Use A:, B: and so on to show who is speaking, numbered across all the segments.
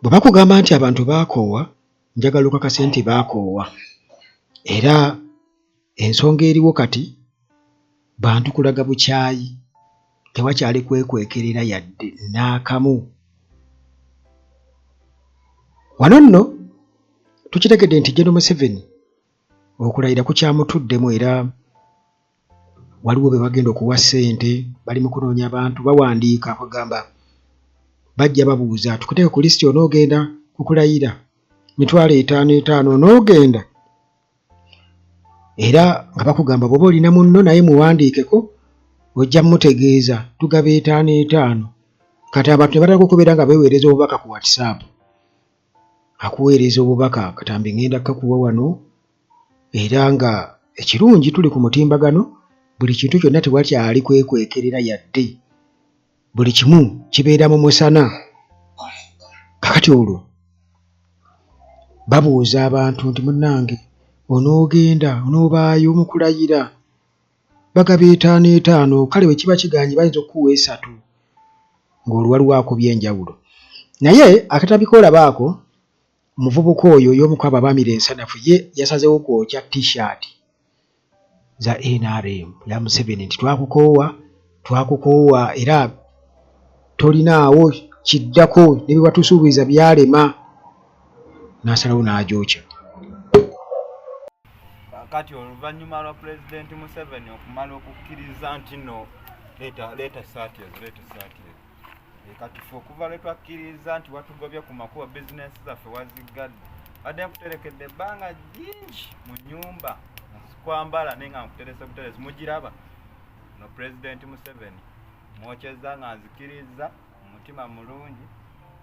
A: bwe bakugamba nti abantu baakoowa njagala okakase nti baakoowa era ensonga eriwo kati bantu kulaga bukyayi tewakyali kwekwekerera yadde n'akamu wano nno tukitegedde nti jeno museveni okulayira kukyamutuddemu era waliwo be bagenda okuwa ssente bali mu kunoonya abantu bawandiika kugamba bajja babuuza tukuteeke ku lisiti onoogenda kukulayira mitwalo etaano etaano onoogenda era nga bakugamba bwoba olina munno naye muwandiikeko ojja mutegeeza tugaba etaano etaano kati abantu ne batandika okubeera nga beweereza obubaka ku whatsapp akuweereza obubaka katambi ngenda kakuwa wano era nga ekirungi tuli ku mutimbagano buli kintu kyonna tewakyali kwekwekerera yadde buli kimu kibeera mu musana kakati olwo babuuza abantu nti munnange onoogenda onoobaayo mukulayira bagaba etaano etaano kale bwe kiba kiganye bayinza okukuwa esatu ng'olwo waliwo akubye enjawulo naye akatabika olabaako Omuvubuka oyo y'omu kwabo abaamira ensanafu ye yasazeewo kwokya T-shirt za nrm ya Museveni nti twakukoowa twakukoowa era tolinaawo kiddako ne bye watusuubiza byalema n'asalawo n'agyokya.
B: Kaakati oluvannyuma lwa Pulezidenti Museveni okumala okukkiriza nti no leeta leeta essaati ezo leeta essaati ezo. Eh, katufu okuva lwe twakkiriza nti watugobye ku makubo bizinensi zaffe waziggadde badde nkuterekedde ebbanga jingi mu nyumba kwambala naye nga nkuterese buteresi mugiraba no pulezidenti museveni mwokyeza nga nzikiriza omutima mulungi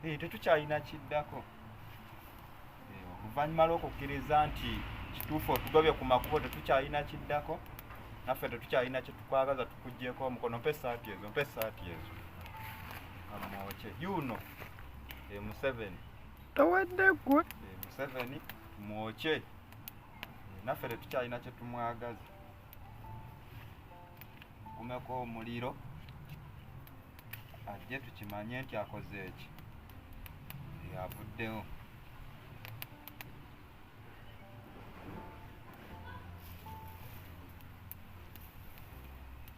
B: eh, tetukyalina kiddako oluvannyuma lw'okukkiriza nti kituufu otugobye ku makubo tetukyalina kiddako naffe tetukyalina kyetukwagaza tukugyeko omukono mpa esaati ezo mpa esaati ezo amwoke yuuno e museveni tawadde gwe e museveni mwoke naffe tetukyalina kyetumwagaza kumeko omuliro ajje tukimanye nti akoze eki yavuddewo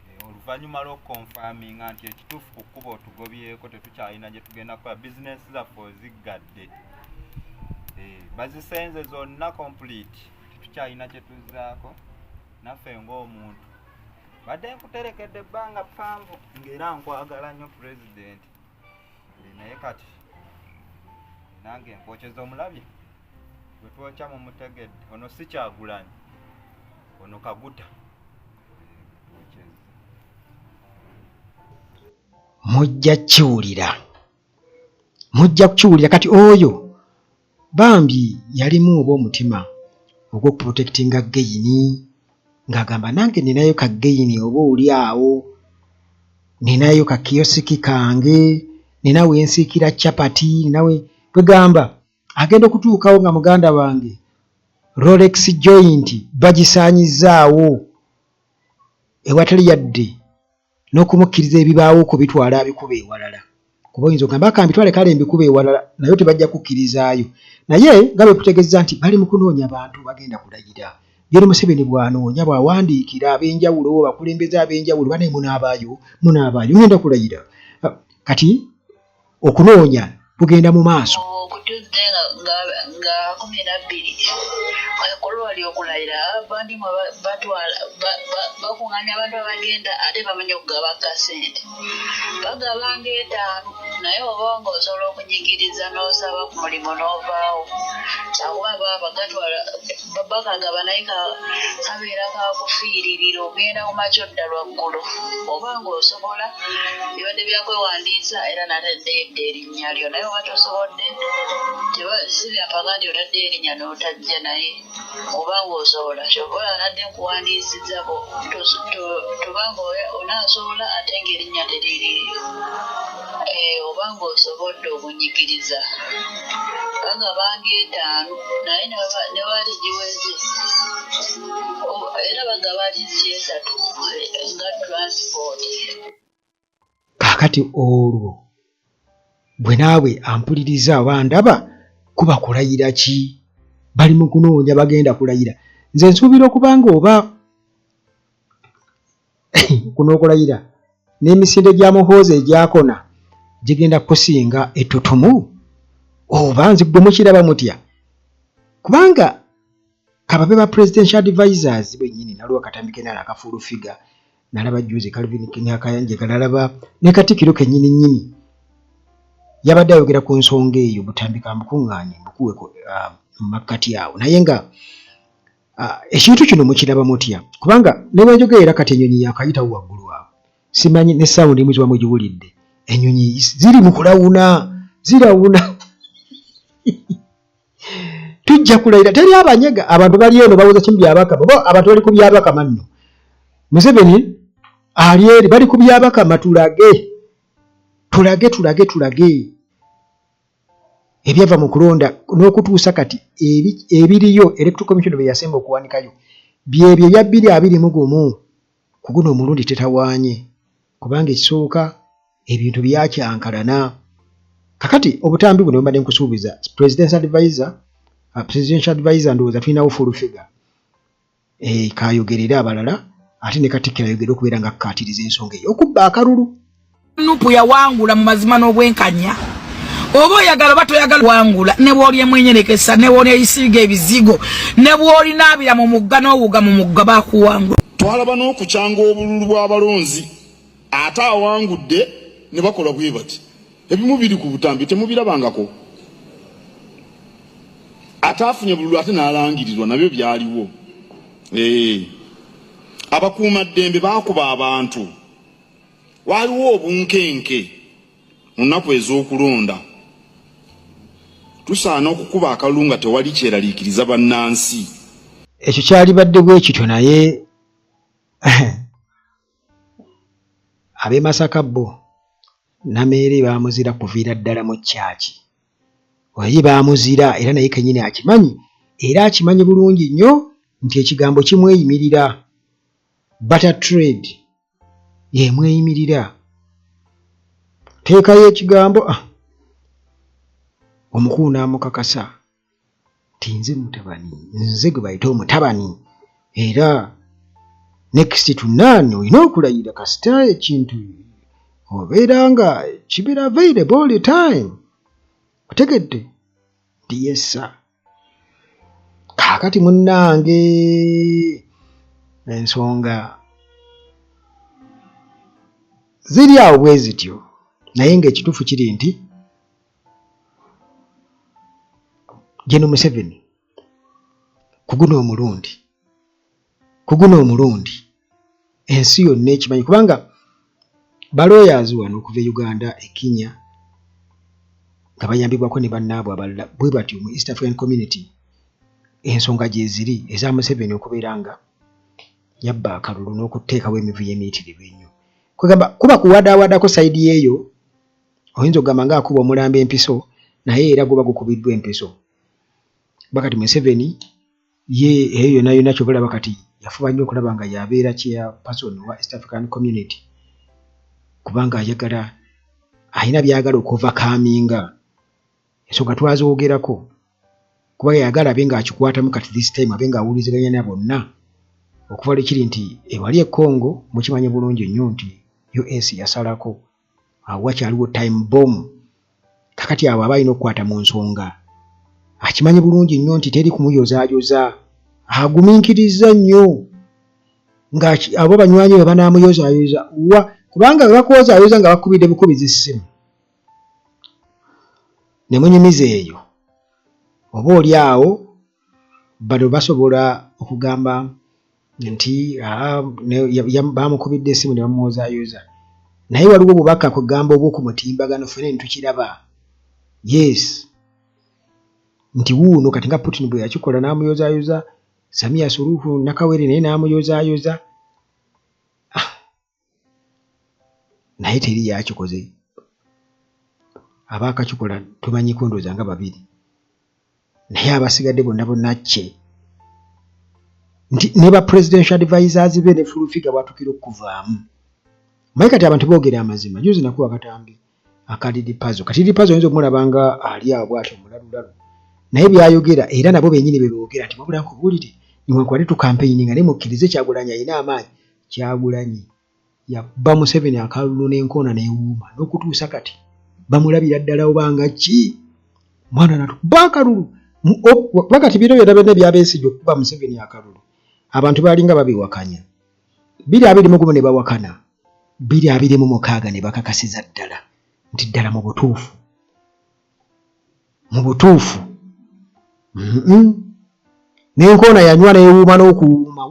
B: eh, oluvannyuma lwokukonfaminga nti ekituufu ku kkuba otugobyeko tetukyalina gye tugenda kukola bizinesi zaffe oziggadde eh, bazisenze zonna complete tetukyalina kye tuzzaako naffe ng'omuntu mbadde nkuterekedde ebbanga ppanvu ng'era nkwagala nnyo pulezidenti naye kati nange nkwokyeza omulabye gwe twokya mu mutegedde ono si kyagulanyi ono kaguta
A: mujja kiwulira mujja kukiwulira kati oyo Bambi yalimu oba omutima ogwo protectinga geyini ng'agamba nange ninayo ka geyini oba oli awo ninayo ka kiyosiki kange nina wensiikira chapati ninawe kwegamba agenda okutuukawo nga muganda wange rolex joint bagisaanyizzaawo ewatali yadde n'okumukkiriza ebibaawo okubitwala abikuba ewalala kuba oyinza ogamba aka mbitwale kale mbikuba ewalala naye tebajja kukkirizaayo naye nga bwe kutegezza nti bali mu kunoonya bantu bagenda kulayira Gen Museveni bw'anoonya bw'awandiikira ab'enjawulo bakulembeze ab'enjawulo banaye munaabaayo munaabaayo ngenda kulayira ah, kati okunoonya kugenda mu maaso okutudde
C: nga kumi nabbiri ekulwali okulayira abandi batwala bakunganya abantu abagenda ate bamanya okugaba kasente bagaba ngaetaano naye oba nga osobola okunyigiriza n'osaba ku mulimu n'ovaawo kyakuba baba bagatwala baba kagaba naye kabeera kakufiiririra ogenda ku makya odda lwaggulu oba ng'osobola ebadde byakwewandiisa era natadde edda erinnya lyo naye oba tosobodde si byampaka nti otadde erinnya n'otajja naye oba ng'osobola kyobola nadde nkuwandiisiza toba nga onaasobola ate ng'erinnya teririiyo Eh, oba ng'osobodde obunyigiriza bagaba ng'etaano naye ne baba- ne bali giweze O- era bagaba liisi esatu eh, nga
A: transport
C: kaakati
A: olwo bwe naawe ampuliriza oba ndaba kuba kulayira ki bali mu kunoonya bagenda kulayira nze nsuubira okuba nga oba kuno okulayira n'emisinde gya muhoozi egyakona gigenda kusinga ettutumu oba nzi gwe mukiraba mutya kubanga kababe ba presidential advisors benyini naliwo akatambi kenala akafuulu figa nalaba juzi kalvin nakayanjeka nalaba ne katikiro kenyini nyini yabadde ayogera ku nsonga eyo butambika mbukuŋŋaanye mbukuwe um, mu makkati awo naye nga Ah, ekintu kino mukiraba mutya kubanga nebanjogera era kati enyonyi yakayitawo waggulu awo simanyi ne sawundi emu kiba mugiwulidde enyonyi ziri mu kulawuna zirawuna tujja kulayira teri abanyega abantu bali eno bawoza kimu byabakama bo abantu bali ku byabakama nno museveni ali eri bali ku byabakama tulage tulage tulage tulage ebyava mu kulonda n'okutuusa kati ebiriyo electoral commission bye yasemba okuwanikayo byebyo ebya bbiri abiri mu gumu ku guno omulundi tetawaanye kubanga ekisooka ebintu byakyankalana kakati obutambi buno bwembadde nkusuubiza presidential advisor uh, presidential advisor ndowooza tulinawo full figure eh, kayogere era abalala ate ne katikkiro ayogere okubeera nga akkaatiriza ensonga eyo okubba akalulu nupu
D: yawangula mu mazima n'obwenkanya oba oyagala oba toyagala wangula ne bw'oli emwenyerekesa ne bw'oli eyisiiga ebizigo ne bw'oli naabira mu mugga n'owuga mu mugga bakuwangula twalaba n'okukyanga
E: obululu bw'abalonzi ate awangudde ne bakola bwe bati ebimu biri ku butambi temubirabangako ate afunye bululu ate n'alangirirwa nabyo byaliwo eh. abakuuma ddembe baakuba abantu waaliwo obunkenke mu nnaku ez'okulonda tusaana okukuba akalulu nga tewali kyeraliikiriza bannansi ekyo
A: kyalibadde bwe kityo naye ab'e Masaka bo Nameere baamuzira kuviira ddala mu kyaki oyi baamuzira era naye kenyini akimanyi era akimanyi bulungi nnyo nti ekigambo kimweyimirira bata trade yemweyimirira teekayo ekigambo ah, omukulu n'amukakasa tinze mutabani nze gwe bayita omutabani era next to none olina okulayira kasita ekintu obeera nga kibeera available all the time otegedde nti yessa kaakati munnange ensonga ziri awo bwe zityo naye ng'ekituufu kiri nti General Museveni kuguna omulundi kuguna omulundi ensi yonna ekimanyi kubanga baloyazi wano okuva e Uganda e Kenya nga bayambibwako ne bannaabwe abalala bwe batyo mu East African Community ensonga gyeziri eza Museveni okubeera nga yabba akalulu n'okuteekawo emivuyo emiyitirivu ennyo kwegamba kuba kuwadaawadako sayidi yeeyo oyinza okugamba nga akuba omulambo empiso naye era guba gukubiddwa empiso kuba kati museveni ye eyo yona yona kyobalaba kati yafuba nnyo okulaba nga yabeera kyeya person wa east african community kubanga ayagala alina byagala okuva kaminga ensonga twazogerako kuba yayagala abe ngaakikwatamu kati this time abe nga awuliziganya na bonna okuva lwekiri nti ewali ekongo mukimanyi bulungi nnyo nti us yasalako awo wakyaliwo time bom kakati abo aba alina okukwata mu nsonga akimanyi bulungi nnyo nti teri kumuyozaayoza aguminkiriza nnyo nga abo banywanyi be banamuyozaayoza wa kubanga webakuwozaayoza nga bakubidde bukubiza essimu ne munyumiza eyo oba oli awo bano basobola okugamba nti ah, bamukubidde esimu ne bamuwozayoza naye waliwo obubaka kugamba obwo ku mutimbagano fene nitukiraba yes nti wuuno kati nga putin bwe yakikola n'amuyozayoza samiya suruhu nakawere naye n'amuyozayoza naye teri yakikoze abaakakikola tumanyi kundooza nga babiri naye abasigadde bonna bonna kye nti ne ba presidential advisers be ne fulufiga bwatukira okuvaamu maye kati abantu boogera amazima juzi nakuwa katambi akadidi pazo katidi pazo oyinza okumulaba nga ali awo bwati omulalulalu naye byayogera era nabo benyini bebogera nti wabula nkubuulire niwankubadde tukampeyini nga naye mukkirize kyagulanyi alina amaanyi kyagulanyi yabba museveni akalulu n'enkoona newuuma n'okutuusa kati bamulabira ddala oba nga ki mwana natukuba akalulu kuba kati biro byona byona ebyabesigye okukuba museveni akalulu abantu baalinga babiwakanya biri abiri mugumu ne bawakana biri abiri mu mukaaga ne bakakasiza ddala nti ddala mu butuufu mu butuufu nenkoona yanywa newuuma n'okuwuuma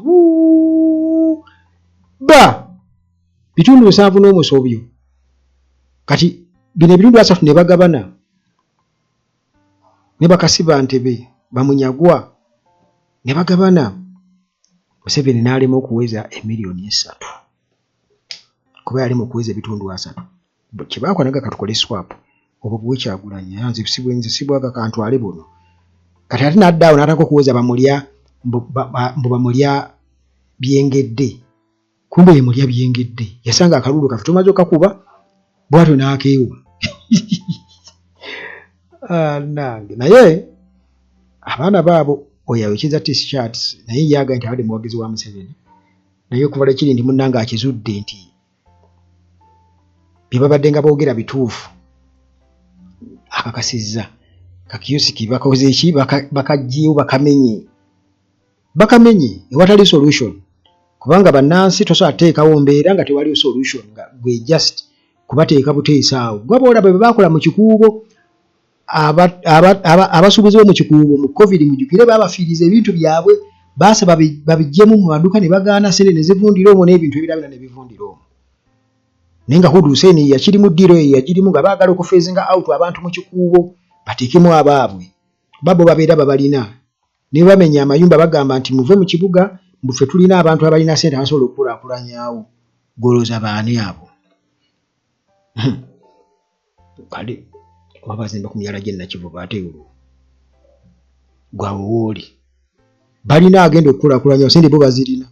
A: ba bitundu nsanvu n'omusobyo kati bino ebitundu asatu ne bagabana ne bakasiba ntebe bamunyagwa ne bagabana museveni n'alema okuweza emiliyoni esatu kuba yali mu kuweza ebitundu asatu kyebaako naga katukole swap obwo buwe kyagulanyi era nze sibwenze sibwaga kantwale buno kati ate n'adda awo n'ataka okuweza bamulya mbu bamulya byengedde kumbe ye mulya byengedde yasanga akaluulu kafe tomaze okakuba bwatyo n'akeewa ah, nange naye abaana baabo oyo ayokyeza tishats naye yaga nti abadde muwagizi wa museveni naye okuvala kiri nti munnange akizudde nti bye babadde nga boogera bituufu akakasizza kakiyusiki bakoze ki bakagyewo bakamenye bakamenye ewatali solution kubanga bannansi tosobola teekawo mbeera nga tewaliwo solution nga gwe just kubateeka buteesa awo gwaba olaba bwe baakola mu kikuubo abasuubuzi bo mu kikuubo mu covid mujukire baabafiiriza ebintu byabwe baasa babijjemu mu maduka ne bagaana sente ne zivundira omwo n'ebintu ebirabira ne bivundira omwo naye nga hudu huseini yakiri mu ddiiro eyo yagirimu nga baagala okufeezinga out abantu mu kikuubo bateekemu abaabwe babo babeera babalina Naye bamenya amayumba bagamba nti muve mu kibuga mbu ffe tulina abantu abalina sente abasobola okukulaakulanyaawo. Ggwe olowooza baani abo? Hmm. Kale oba bazimba ku myala gye Nakivubo ate olwo gwawo wooli. Balina agenda okukulaakulanyaawo sente bo bazirina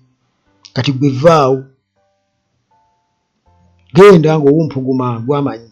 A: kati gwe vaawo genda ng'owumpuguma gwamanyi.